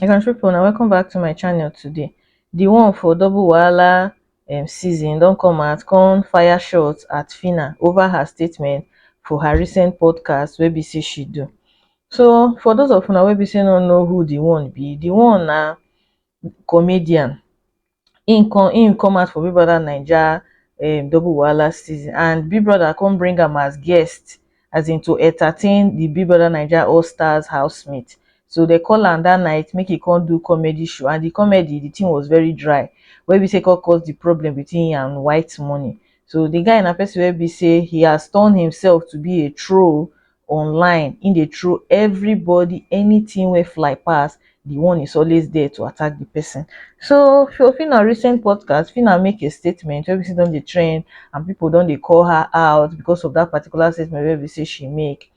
my country people, now welcome back to my channel today the one for double wahala um, season don't come out come fire shots at fina over her statement for her recent podcast wey be say she do so for those of una wey be say no know who the one be the one na comedian him come him come out for big brother naija um double wahala season and big brother come bring am as guest um to entertain the big brother naija all stars housemate so they call am that night make e come do comedy show and the comedy the thing was very dry wey be say e come cause the problem between him and white money so the guy na person wey be say he has turned himself to be a troll online him dey throw everybody anything wey fly pass the one is always there to attack the person so for Phyna recent podcast Phyna make a statement wey be say don dey trend and people don dey call her out because of that particular statement wey be say she make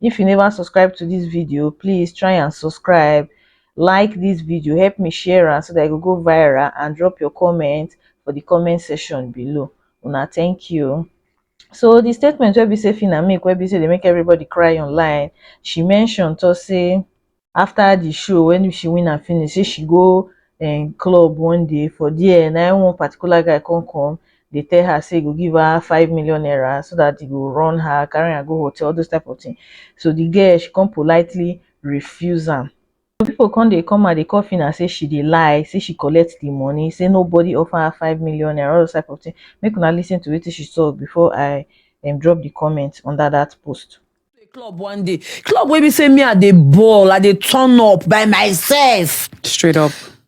if you never subscribe to this video please try and subscribe like this video help me share am so that e go go viral and drop your comment for the comment section below una thank you So di statement wey be say Phyna make wey be say dey make everybody cry online, she mention talk say after di show when she win am finish say she go um club one day for there na im one particular guy come come dey tell her say e go give her five million naira so that e go run her carry her go hotel all those type of thing so di girl she come politely refuse am Some people come dey come and dey call Phyna say she dey lie, say she collect the money, say nobody offer her five million naira, all those type of thing. Make una listen to wetin she talk before I um drop the comment under that post. club one day club wey be say me i dey ball i dey turn up by myself straight up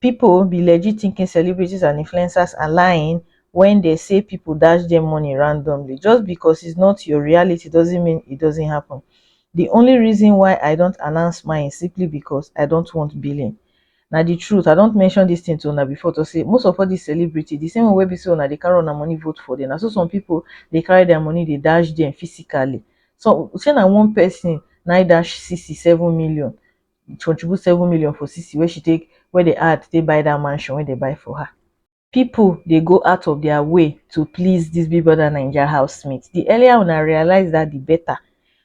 People be legit thinking celebrities and influencers are lying when they say people dash them money randomly. Just because it's not your reality doesn't mean it doesn't happen. The only reason why I don't announce mine is simply because I don't want billing. Now the truth, I don't mention this thing to una before to say most of all these celebrity, the same way be so una they carry on money vote for them. I saw some people they carry their money, they dash them physically. So say na one person na dash 67 million contribute seven million for sisi wey she take wey dey add take buy that mansion wey dey buy for her. People dey go out of their way to please this big brother naija housemate, the earlier una realize that the better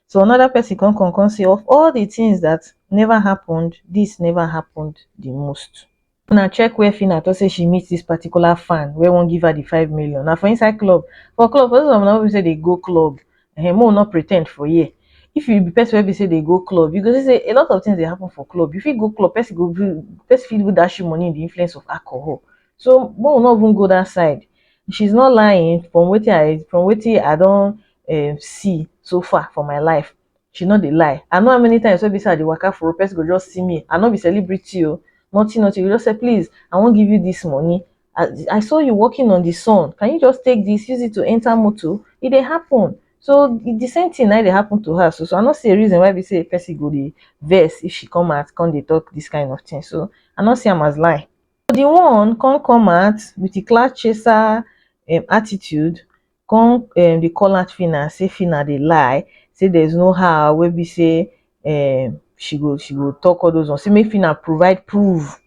so another person come come come say of all the things that never happened this never happened the most. una check where phyna talk say she meet this particular fan wey wan give her the five million na for inside club for club for those of una wey be say dey go club um make we no pre ten d for here if you be person wey be say dey go club you go see say a lot of things dey happen for club you fit go club person go even person fit even dash you money in the influence of alcohol so make we no even go that side she is not lying from wetin I from wetin I don um see so far for my life she no dey lie i know how many times wey be say i dey waka for road person go just see me i no be celebrity o nothing nothing you go just say please i wan give you this money i i saw you walking on the sun can you just take this use it to enter motor e dey happen so the same thing na dey happen to her so so i no see a reason why be say person go dey vex if she come out come dey talk this kind of thing so i no see am as lie the one come come out with the clout chaser um attitude come um dey call out phyna say phyna dey lie say there is no how wey be say um she go she go talk all those ones say make phyna provide proof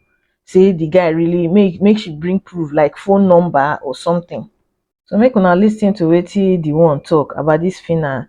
say the guy really make make she bring proof like phone number or something so make una lis ten to wetin the one talk about this phyna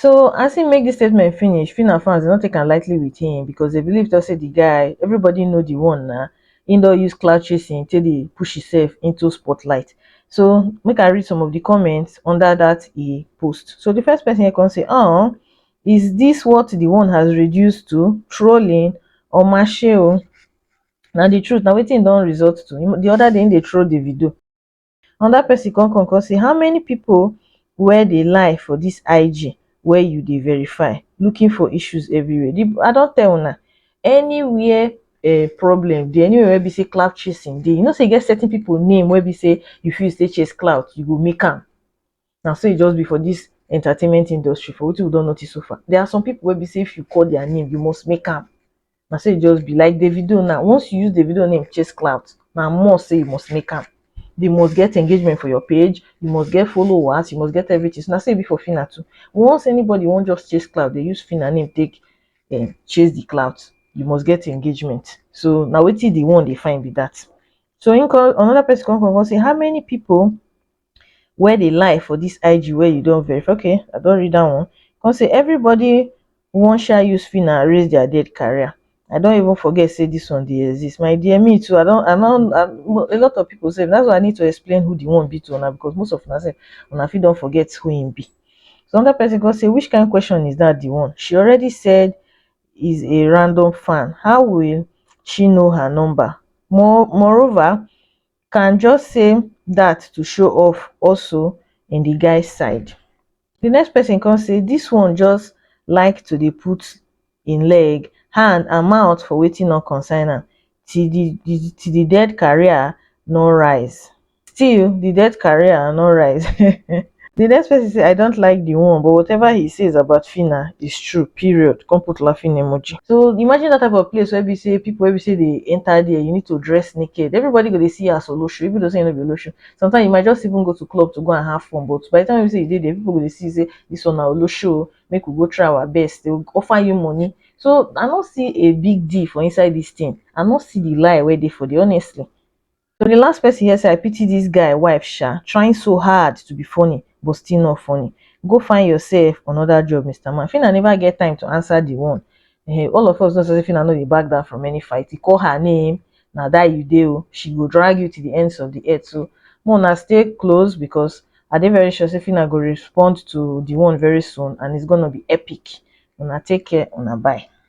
So as im make dis statement finish, Phyna and fans don take am lightly with him because they believe talk say the guy, everybody know the one na, him don use cloud chasing take dey push himself into spotlight. So make I read some of the comments under that e post. So the first person here come say, oh, is this what the one has reduced to? Trolling? or Omashe o. Na the truth, na wetin e don result to. The other day, he dey troll Davido. Another person come come come say how many people wey dey lie for this IG wey you dey verify looking for issues everywhere. The, I don tell una anywhere uh, problem dey anywhere wey be say cloud chasing dey you know say e get certain people name wey be say you fit say chase cloud you go make am Na so e just be for dis entertainment industry for wetin we don notice so far. There are some people wey be say if you call their name, you must make am. Na so e just be. Like Davido now, once you use Davido name chase clout, na must say you must make am. You must get engagement for your page, you must get followers, you must get everything. So na so e be for Phyna too. Once anybody wan just chase clout, dey use Phyna name take um chase the clout. You must get engagement. So na wetin the one dey find be that. So him come another person come come come say how many people where dey lie for this IG where you don verify okay I don read that one come say everybody wan sha use Phyna erase their dead career I don even forget say this one dey exist my dear me too I don I don I, a lot of people sef that's why I need to explain who the one be to una because most of una sef una fit don forget who him be so another person come say which kind question is that the one she already said is a random fan how will she know her number more moreover can just say dat to show off also in di guy side di next pesin come say dis one just like to dey put im leg hand and mouth for wetin no concern am till di till di dead career no rise still di dead career no rise the next person say i don't like the one but whatever he says about phyna is true period come put laughing emoji so imagine that type of place where we say people where we say they enter there you need to dress naked everybody go to see you as olosho even though say you no be olosho sometimes you might just even go to club to go and have fun but by the time you say you did there people go to see say this one na olosho make we go try our best they will offer you money so i don't see a big deal for inside this thing i don't see the lie where they for the honestly So the last person here say I pity this guy wife sha trying so hard to be funny but still not funny. Go find yourself another job Mr. Man. Fina never get time to answer the one. Eh, all of us know say Fina no dey back down from any fight. He call her name na that you dey oh. She go drag you to the ends of the earth so more na stay close because I dey very sure say Fina go respond to the one very soon and it's gonna be epic. Una take care una bye.